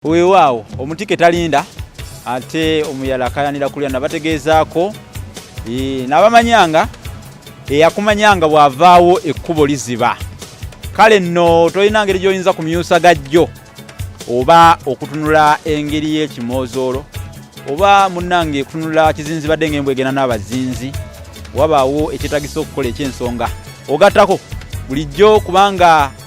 Weewaawo omutike talinda ate omuyala akayanira kulya nabategeezaako n'abamanyanga eyakumanyanga bw'avaawo ekkubo liziba kale nno tolina ngeri gy'oyinza ku myusa gajjo oba okutunula engeri y'ekimoozoolo oba munnange kutunula kizinzi badde nga embwegena n'abazinzi wabaawo ekyetagisa okukola eky'ensonga ogattako bulijjo kubanga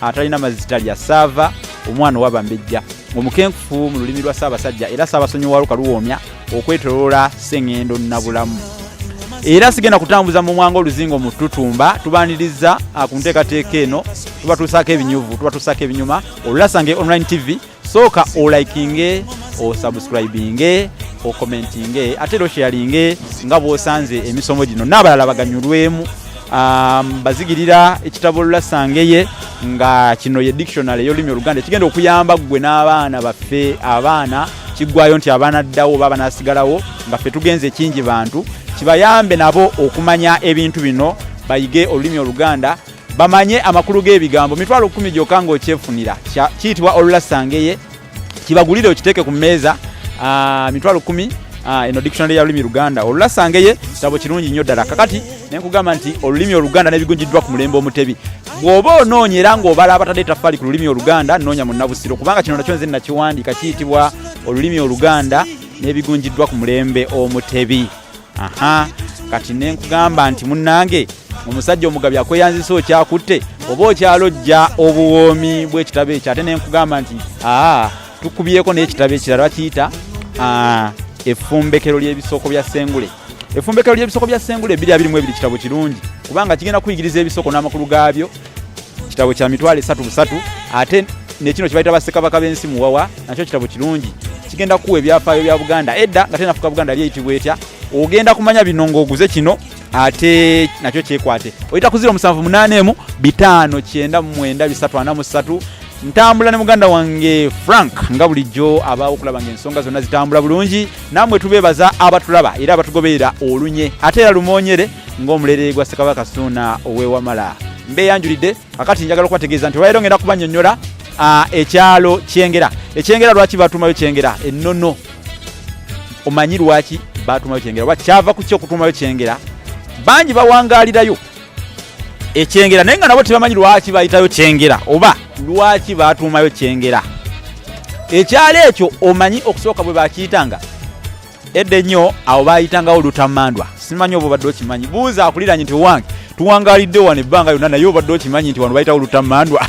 atalina mazzi talya saava omwana owabambejja omukenkufu mu lulimi lwa ssaabasajja era ssaabasonyiwalo kaluwoomya okwetoloola sengendo nabulamu era sigenda kutambuza mu mwanga oluzingo mu tutumba tubaniriza ah, ku nteekateeka eno tubatuusaako ebinyuvu tubatuusaako ebinyuma olulasange online tv sooka olikinge osubscribinge okomentinge ate era osheyalinge nga bwosanze emisomo gino n'abalala baganyulwemu um, bazigirira ekitabo lulasangeye nga kino ye dictionary eyolulimi oluganda ekigenda okuyamba ggwe n'abaana baffe abaana kiggwayo nti abaana ddawo oba abanasigalawo nga ffe tugenze ekingi bantu kibayambe nabo okumanya ebintu bino bayige olulimi oluganda bamanye amakulu g'ebigambo mitwalo kumi gyokka ng'okyefunira kiyitibwa olulasangeye kibagulire okiteeke ku mmeeza ah, mitwalo kumi Ah, eno dictionary ya lulimi luganda olulasangeye kitabo kirungi nnyo ddala kakati nenkugamba nti olulimi oluganda nebigunjiddwa ku mulembe omutebi bw'oba onoonya era ng'obala abatadde etafaali ku lulimi oluganda noonya mu nabusiro kubanga kino nakyo nze nakiwandiika kiyitibwa olulimi oluganda nebigunjiddwa ku mulembe omutebi aha kati nenkugamba nti munnange omusajja omugabi akweyanzisa okyakutte oba okyalojja obuwoomi bwekitabo ekyo ate nenkugamba nti aa tukubyeko n'ekitabo ekirala bakiyita efumbekero ly'ebisoko bya sengule efumbekero ly'ebisoko bya sengule ebiri abiri mu ebiri kitabo kirungi kubanga kigenda kuyigiriza ebisoko n'amakulu gaabyo kitabo kya mitwalo esatu busatu ate nekino kyebayita basekabaka b'ensi muwawa nakyo kitabo kirungi kigenda kuwa ebyafaayo bya buganda edda nga tenafuka buganda yali eyitibwa etya ogenda kumanya bino ng'oguze kino ate nakyo kyekwate oyita ku 0781 bitaano kyenda mwenda bisatu ana musatu ntambula ne muganda wange frank nga bulijjo abaawo okulaba nga ensonga zonna zitambula bulungi namwe tubebaza abatulaba era abatugoberera olunye ate era lumonyere ng'omulerere gwa ssekabaka suuna owewamala mbeyanjulidde akati njagala okubategeeza nti olwalero ngenda kubanyonyola ekyalo kyengera ekyengera lwaki batumayo kyengera ennono omanyi lwaki batumayo kyengera oba kyava ku ki okutumayo kyengera bangi bawangalirayo ekyengera naye nga nabo tebamanyi lwaki bayitayo kyengera oba lwaki batuumayo kyengera ekyalo ekyo omanyi okusooka bwe bakiyitanga edda ennyo awo bayitangawo lutamandwa simanyi oba obadde okimanyi buuza akuliranye nti owange tuwangalidde wano ebbanga yonna naye obadde okimanyi nti wano bayitawo lutamandwa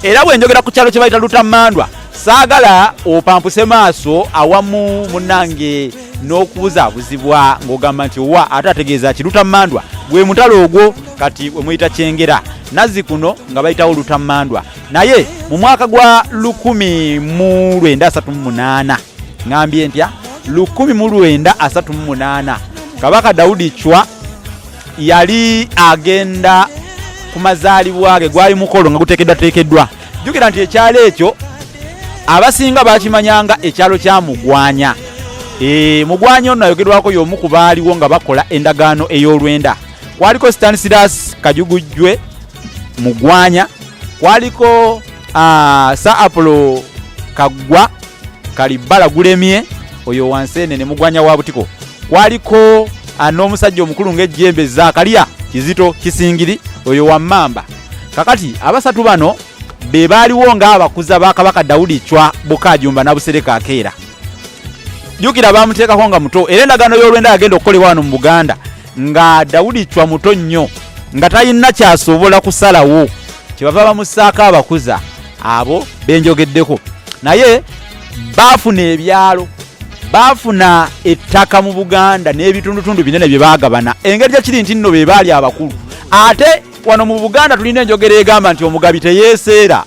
era bwe njogera ku kyalo kye bayita lutamandwa saagala opampuse maaso awamu munange n'okubuzaabuzibwa ng'ogamba nti owa ate ategeeza ki lutammandwa gwe mutalo ogwo kati wemuyita kyengera nazzi kuno nga bayitawo lutammandwa naye mu mwaka gwa 1938 ŋambye ntya 1938 kabaka dawudi cwa yali agenda ku mazaalibwa ge gwali mukolo nga guteekeddwateekeddwa jjukira nti ekyalo ekyo abasinga bakimanyanga ekyalo kya mugwanya e, mugwanya ono ayogerwako y'omu ku baaliwo nga bakola endagaano ey'olwenda kwaliko stansidas kajugujjwe mugwanya kwaliko uh, sir apolo kaggwa kalibbala gulemye oyo wansi ene ne mugwanya wa butiko kwaliko ah, n'omusajja omukulu ng'ejjembe zakalya kizito kisingiri oyo wammamba kakati abasatu bano be baaliwo ng'abakuza ba kabaka dawudi cwa bukajumba nabusereka akeera jjukira baamuteekako nga muto era endagaano y'olwenda yagenda okukolebwa wano mu buganda nga dawudi cwa muto nnyo nga talina kyasobola kusalawo kyebava bamusaako abakuza abo benjogeddeko naye baafuna ebyalo baafuna ettaka mu buganda n'ebitundutundu binene bye bagabana engeri gyekiri nti nno be baali abakulu ate wano mu buganda tulina enjogera egamba nti omugabi teyeeseera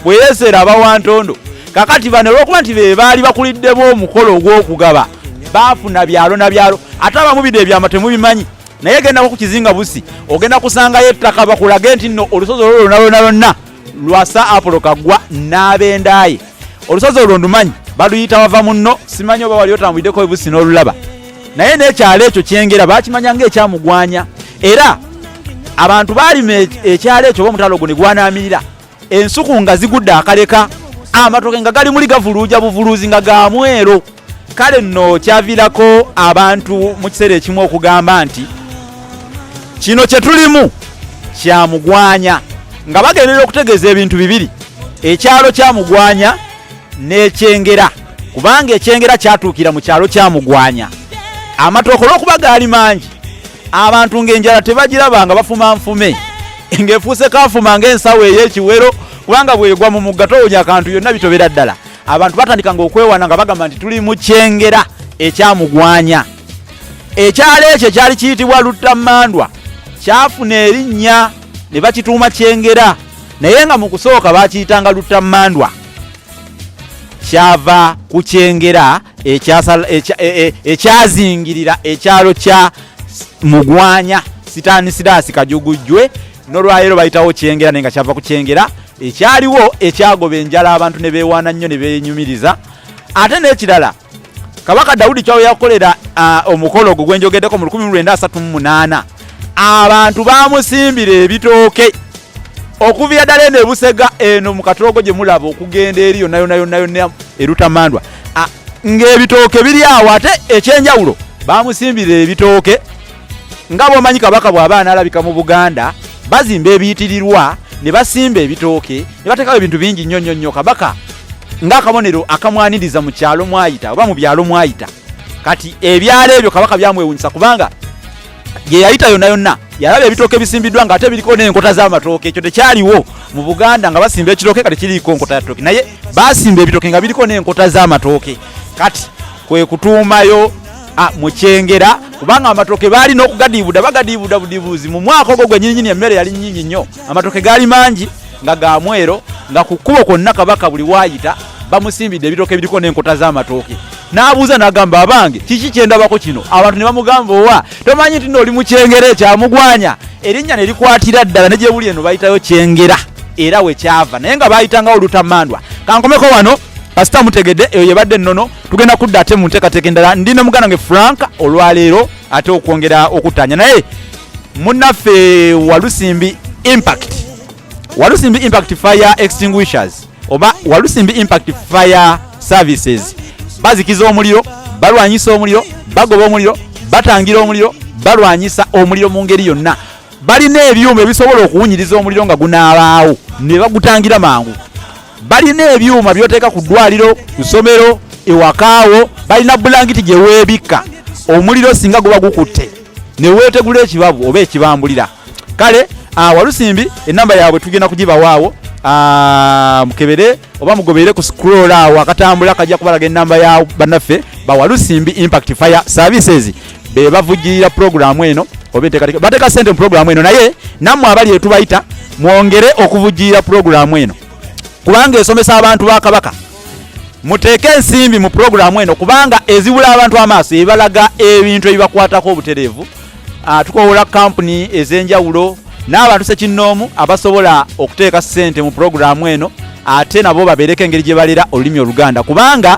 bwe yeeseera aba wa ntondo kakati bano olwokuba nti be baali bakuliddemu omukolo ogw'okugaba baafuna byalo na byalo ate abamu bide ebyama temubimanyi naye gendako ku kizinga busi ogenda kusangayo ettaka bakulage nti nno olusozi olwo lwona lwona lwonna lwasa apolo kagwa n'abendaaye olusozi olwo ndumanyi baluyita wava munno simanyi oba wali otambulideko ebusi n'olulaba naye n'ekyalo ekyo kyengera bakimanya ngaekyamugwanya era abantu baalima e-, ekyalo ekyo oba omutalo ogwo ne gwanaamirira ensuku nga zigudde akaleka amatoke nga gali muli gavuluuja buvuluuzi nga gamwero kale nno kyaviirako abantu mu kiseera ekimu okugamba nti kino kye tulimu kyamugwanya nga bagenderera okutegeeza ebintu bibiri ekyalo kyamugwanya n'ekyengera kubanga ekyengera kyatuukira mu kyalo kyamugwanya amatooka olw'okuba gaali mangi abantu ng'enjala tebagiraba nga bafuma nfume ng'efuuse kafuma ng'ensawo ey'ekiwero kubanga bwegwa mu mugga towunya akantu yonna bitobera ddala abantu batandika nga okwewana nga bagamba nti tuli mukyengera ekyamugwanya ekyalo ekyo ekyali kiyitibwa luttammandwa kyafuna erinnya ne bakituuma kyengera naye nga mu kusooka bakiyitanga luttammandwa kyava ku kyengera e, e, ekyazingirira ekyalo kya mugwanya sitaani siraasi kajugujjwe nolwaleero bayitawo kyengera naye nga kyava ku kyengera ekyaliwo ekyagoba enjala abantu ne beewaana nnyo ne beenyumiriza ate n'ekirala kabaka dawudi kyawo yakolera omukolo ogwo gwenjogeddeko mu 1938 abantu bamusimbira ebitooke okuviira ddala eno ebusega eno mu katoogo gye mulaba okugenda eri yonna yonna yonna yonna erutamandwa ng'ebitooke biri awo ate ekyenjawulo bamusimbira ebitooke nga bwomanyi kabaka bw'aba anaalabika mu buganda bazimba ebiyitirirwa ne basimba ebitooke ne bateekawo ebintu bingi nnyo nnyo nnyo kabaka ng'akabonero akamwaniriza mu kyalo mwayita oba mu byalo mwayita kati ebyalo ebyo kabaka byamwewunyisa kubanga gyeyayita yonna yonna yalaba ebitooke bisimbiddwa nga ate biriko n'enkota z'amatooke ekyo tekyaliwo mu buganda nga basimba ekitooke kati kiriiko nkota ya tooke naye basimba ebitooke nga biriko n'enkota z'amatooke kati kwe kutuumayo Ah, mukyengera kubanga amatoke baali n'okugadiibuda bagadiibuda budibuuzi mu mwaka ogwo gwenyinyini emmere yali nyingi nnyo amatoke gaali mangi nga ga mwero nga ku kkubo kwonna kabaka buli waayita bamusimbidde ebitoke ebiriko n'enkota z'amatooke n'abuuza n'agamba abange kiki kyendabako kino abantu ne bamugamba owa tomanyi nti nooli mukyengera ekyamugwanya erinnya ne likwatira ddala ne gyebuli eno bayitayo kyengera era wekyava naye nga baayitangawo lutamandwa kankomeko wano kasita mutegedde eyo yebadde ennono tugenda kudda ate mu nteekateeka endala ndi ne muganda nge frank olwaleero ate okwongera okutanya naye munaffe walusimbi impact walusimbi impact fire extinguishers oba walusimbi impact fire services bazikiza omuliro balwanyisa omuliro bagoba omuliro batangira omuliro balwanyisa omuliro mu ngeri yonna balina ebyuma ebisobola okuwunyiriza omuliro nga gunaabaawo ne bagutangira mangu balina ebyuma byoteeka ku ddwaliro ku ssomero ewakaawo balina bulangiti gye weebikka omuliro singa guba gukutte ne weetegula ekibabu oba ekibambulira kale ah, walusimbi enamba yaabwe tugenda kugibawaawo ah, mukebere oba mugobeere ku scroll awo akatambula kajja kubalaga enamba ya bannaffe bawalusimbi impact fire services be bavujjirira pulogulaamu eno oba enteekateeka bateeka ssente mu pulogulaamu eno naye nammwe abali etubayita mwongere okuvujjirira pulogulaamu eno kubanga esomesa abantu ba kabaka muteeke ensimbi mu pulogulaamu eno kubanga ezibula abantu amaaso ebalaga ebintu ebibakwatako obutereevu ah, tukowola kampuni ez'enjawulo n'abantu sekinnoomu abasobola okuteeka ssente mu pulogulaamu eno ate nabo babeereko engeri gye balera olulimi oluganda kubanga